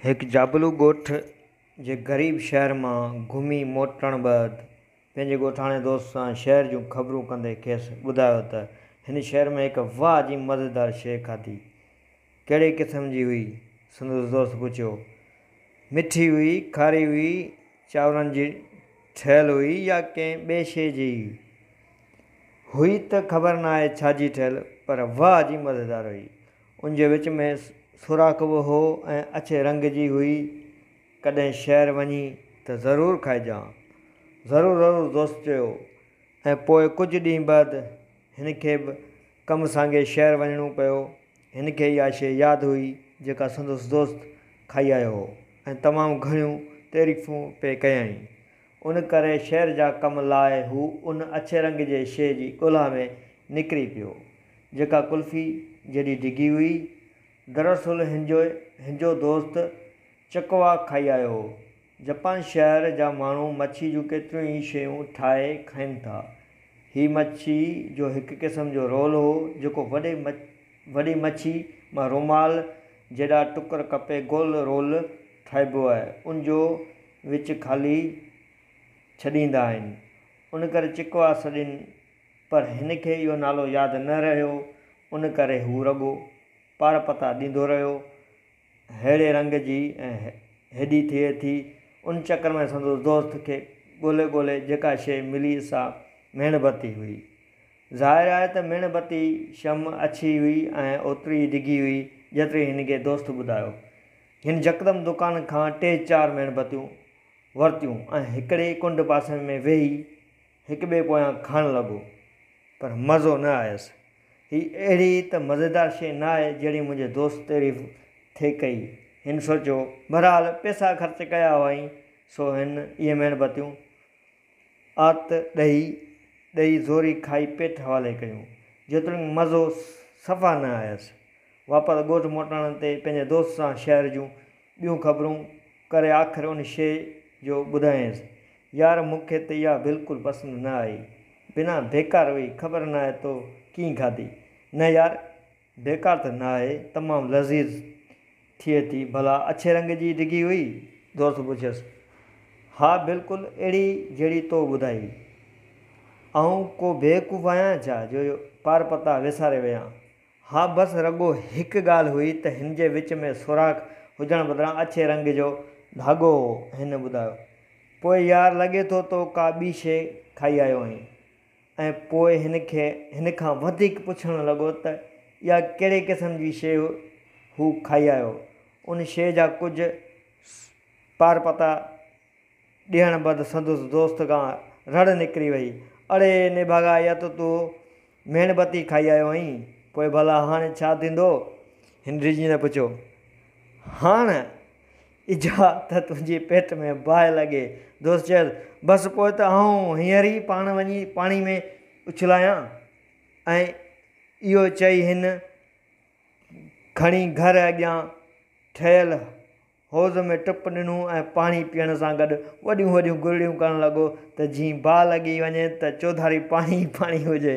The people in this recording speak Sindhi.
هڪ جابلو ڳوٺ جي غريب شهر مان گهمي موٽڻ بعد پنهنجي ڳوٺاڻي دوست سان شهر جون خبرون ڪندي کيس ٻڌايو ته هن شهر ۾ هڪ واهه جي مزيدار شيء کاڌي. ڪهڙي قسم جي هئي؟ سندس دوست پڇيو. مٺي هئي، کاري هئي، چانورن جي ٺهيل هئي يا ڪنهن ٻئي شيء جي هئي؟ هئي ته خبر ناهي ڇا جي ٺهيل پر واهه جي مزيدار هئي. ان جي وچ ۾ سوراخ به هو ۽ اڇي رنگ جي هئي. ڪڏهن شهر وڃي ته ضرور کائجان. ضرور ضرور دوست چيو ۽ پوء ڪجهه ڏينهن بعد هن کي به ڪم سانگي شهر وڃڻو پيو. هن کي اها شيء ياد هئي جيڪا سندس دوست کائي آيو هو ۽ تمام گهڻيون تعريفون پئي ڪيائين. ان ڪري شهر جا ڪم لاء هو ان اڇي رنگ جي شيء جي ڳولها ۾ نڪري پيو. جيڪا قلفي جيڏي ڊگهي هئي. دراصل هنجو هنجو دوست چڪوا کائي آيو هو. جپان شهر جا ماڻهو مڇي جون ڪيتريون ئي شيون ٺاهي کائين ٿا. هي مڇي جو هڪ قسم جو رول هو، جيڪو وڏي وڏي مڇي مان رومال جيڏا ٽڪر ڪپي گول رول ٺاهبو آهي. ان جو وچ خالي ڇڏيندا آهن. ان ڪري چڪوا سڏين پر هن کي اهو نالو ياد نه رهيو، ان ڪري هو رڳو پارپتا ڏيندو رهيو. ههڙي رنگ جي ۽ هيڏي ٿئي ٿي. ان چڪر ۾ سندس دوست کي ڳولي ڳولي جيڪا شيء ملي سا ميڻ بتي هئي. ظاهر آهي ته ميڻ بتي، شمع، اڇي هئي ۽ اوتري ئي ڊگهي هئي، جيتري هن کي دوست ٻڌايو. هن يڪدم دڪان کان ٽي چار ميڻ بتيون ورتيون ۽ هڪڙي ڪنڊ پاسي ۾ ويهي هڪ ٻئي پويان کائڻ لڳو، پر مزو نه آيس. هي اهڙي ته مزيدار شيء نه آهي، جهڙي منهنجي دوست تعريف ٿي ڪئي. هن سوچيو، بهرحال پئسا خرچ ڪيا هئائين، سو هن اهي ميڻ بتيون آت ڏهي ڏهي زوري کائي پيٽ حوالي ڪيون، جيتوڻيڪ مزو صفا نه آيس. واپس ڳوٺ موٽڻ تي پنهنجي دوست سان شهر جون ٻيون خبرون ڪري آخر ان شيء جو ٻڌايائينس. يار مون کي ته اها بلڪل پسند نه آئي. بنا بيڪار هئي، خبر ناهي تو ڪيئن کاڌي. نه يار، بيڪار ته نه آهي، تمام لذيذ ٿئي ٿي. ڀلا اڇي رنگ جي ڊگهي هئي؟ دوست پڇيس. ها بلڪل اهڙي جهڙي تو ٻڌائي. آئون ڪو بيوقوف آهيان ڇا جو پارپتا وساري ويهان. ها بس رڳو هڪ ڳالهه هئي ته هن جي وچ ۾ سوراخ هجڻ بدران اڇي رنگ جو ڌاڳو هو. هن ٻڌايو، پوء يار لڳي ٿو تو ڪا ٻي شيء کائي آيو آهين. ۽ پوء هن کي هن کان وڌيڪ پڇڻ لڳو ته اها ڪهڙي قسم جي شيء هو کائي آيو. ان شيء جا ڪجهه پارپتا ڏيڻ بعد سندس دوست کان رڙ نڪري وئي، اڙي نڀاڳا اها ته تون ميڻ بتي کائي آيو هئين، پوء ڀلا هاڻي ڇا ٿيندو؟ هن ريجينا پڇيو. هاڻ اجها ته تنهنجي پيٽ ۾ باهه لڳي. دوست چيس، بس پوء ته آئون هينئر ئي پاڻ وڃي پاڻي ۾ اڇلايان. ۽ اهو چئي هن کڻي گهر اڳيان ٺهيل حوض ۾ ٽپ ڏنو ۽ پاڻي پيئڻ سان گڏ وڏيون وڏيون گرڙيون ڪرڻ لڳو ته جيئن باهه لڳي وڃي ته چوڌاري پاڻي ئي پاڻي هجي.